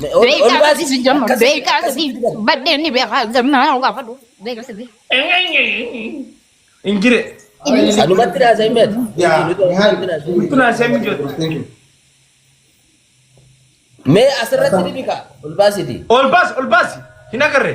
Beekaa sadii si jamma. Beekaa sadii baddeen ni beekaa gamnaa yoo gaafadhu. Beekaa sadii. Injire. Anumatti naa sa'in beet. Nutti naa seen mijoota. Mee asirratti ni bika. Ol baasiti. Ol baas ol baas hin agarre.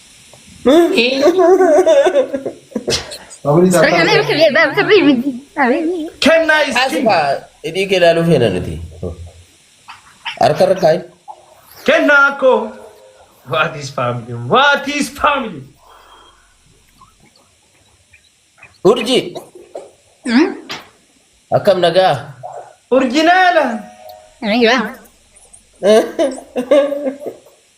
Kennaa is king. Hidhii kee ilaaluu feena nuti. Harka irra kaa'i. Kennaa koo. What is family? What is family? Urji. Akkam nagaa. Urjinaala.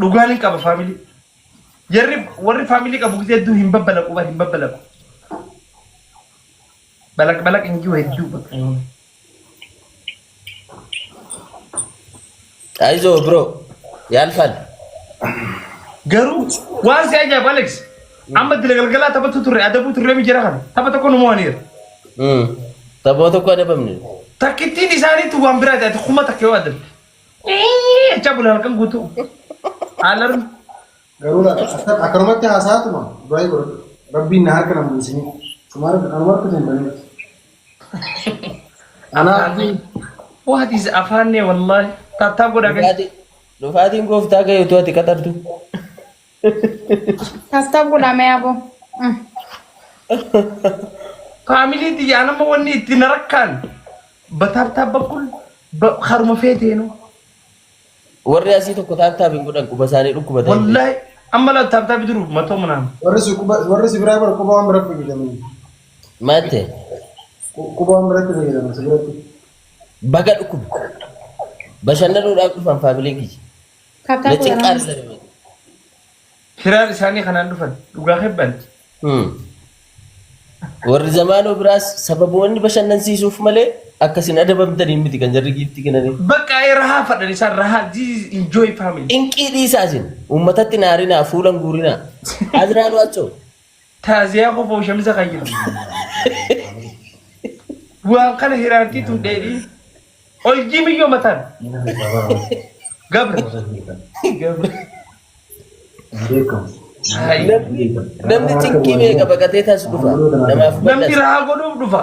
dhugaan hin qaba faamilii. Jarri warri faamilii qabu gisee hedduu hin babbalaqu bar hin babbalaqu. Balaq balaq hin jiru hedduu bakka. Ayizoo bro yaalfan. Garuu waan si ajaa'ibu Alex amma dila galgalaa taphatu turre adabuu turre mi jira kana tapha tokko nu mo'aniiru. Taphoota koo adabamne. Takkittiin isaaniitu waan biraati ati kuma takka yoo adabde. Iyyii jechaa bula halkan guutuu. Alarm. Garuu laata akka akkanumatti haasa'aatuma du'aa'ii godhadhu. Rabbiin na harka nan buusinii. Sumaara anuma harka hin banee. Anaa Afaanni. What is afaannee wallaahi. Taattaa godhaa gadi. Dhufaatiin dhufaatiin gooftaa kee utuu ati qaxartu. Taasitaaf godhaa mee aboo. Mm. Faamilii tiyyaa nama wanni itti na rakkaan bataartaa bakkul ba- haruma feeteenu. Warri asii tokko taaptaap hin godhan quba isaanii dhukkuba ta'e. Wallaahi amma laa taartaa bidiru matoo manaan. Warri si quba warri si biraa bara quba waan biratti fayyadaman. Maal ta'e? Qu- Quba waan biratti fayyadaman si biratti. Baga dhukkuba. Bashannanuudhaaf dhufan faamiliin kiyya. Kataa Na cinqaa waraana. argame malee. Hiraar isaanii kanaan dhufan dhugaa kebbanti. Hmm. Warri zamaanoo biraas sababoonni bashannansiisuuf malee akka isin adabamtaniin miti kan jarri giiftii kenanii. Bakka ee rahaa fadhan isaan rahaa this is enjoy family. Inqii dhiisaa isin uummatatti naarinaa fuulan guurinaa. Azraanu achoo. Taaziyaa kofoo shamisa kayya. Waan kana hiraartii tun dheedhii. Ol jiimiyyoo mataan. Gabra. Gabra. Haayi. Namni namni cinqii meeqa baqatee taas dhufa. Namaaf Namni badhas. rahaa godhuuf dhufa.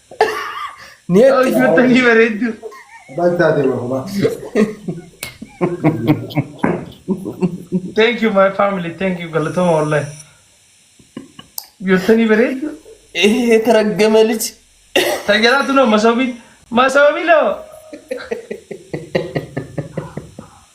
Neetti. Hojjettanii bareeddu. Baay'ee taatee bahumaa. Thank you my family. Thank you galatoma wallahi. Hojjettanii bareeddu. Ee taraggama liji. Tajaajilatu noo masoobii. Masoobii loo.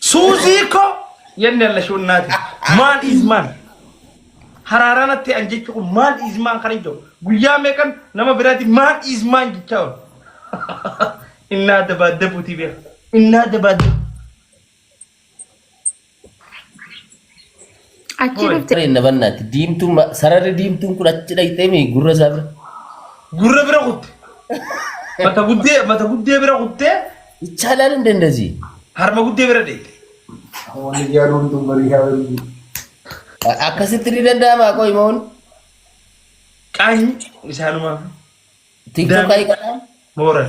Suuzii ko yanni alla shunnaati. Maan is maan. Haraaraan atti an jechu kun maan is maan kan hin jiru. Guyyaa meeqan nama biraati maan is maan jechaa oolu. Innaa dabaaddabuutii beeka. Innaa dabaaddabu. Achi Hoi. dhufte. Inna bannaatti diimtuun ma- sararri diimtuun kun achi dhaqxee mi gurra isaa bira. Gurra bira kutte. Mata guddee mata guddee bira kuttee Ichaalaan hin dandasi. harma guddee bira deette. Wani jarum tu beri hari ini. Akkasitti ni danda'ama qoy moon. Qaanyi isaanumaaf Tiktok Daandii. ayi kanaa. mooral.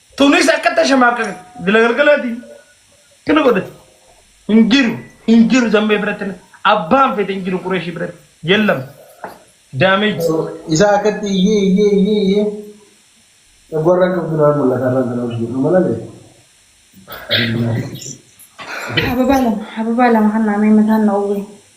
Tunis akka tashamaa akka galagalgalaatiin kana godhate hin jiru hin jiru zammee biratti abbaan fete hin jiru qureeshii biratti yellam damage Isa akkatti iyyee iyyee iyyee iyyee dhagwarraan qabdu naa mul'ata irraan kana hojii jedhu malalee. Ababaa lama ababaa lama kan naamee mataan na uwwee.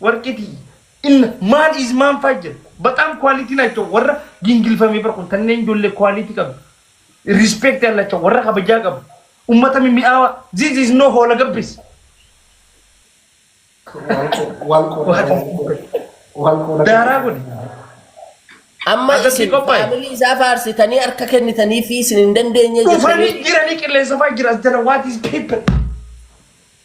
Warqiti inna maan is maan faa jira baxaam quality naacho warra gingilfamee bar kun tanneen jollee quality qabdu respect yallacha warra kabajaa qabu ummata mimi'aawa this is no hoola gabbis. Daaraa godhi. Amma Agartee isin qophaa'e? faamilii isaa faarsitanii harka kennitanii fi isin hin dandeenye Dhufanii jettanii jiranii qilleensa faa jira as jala what is people.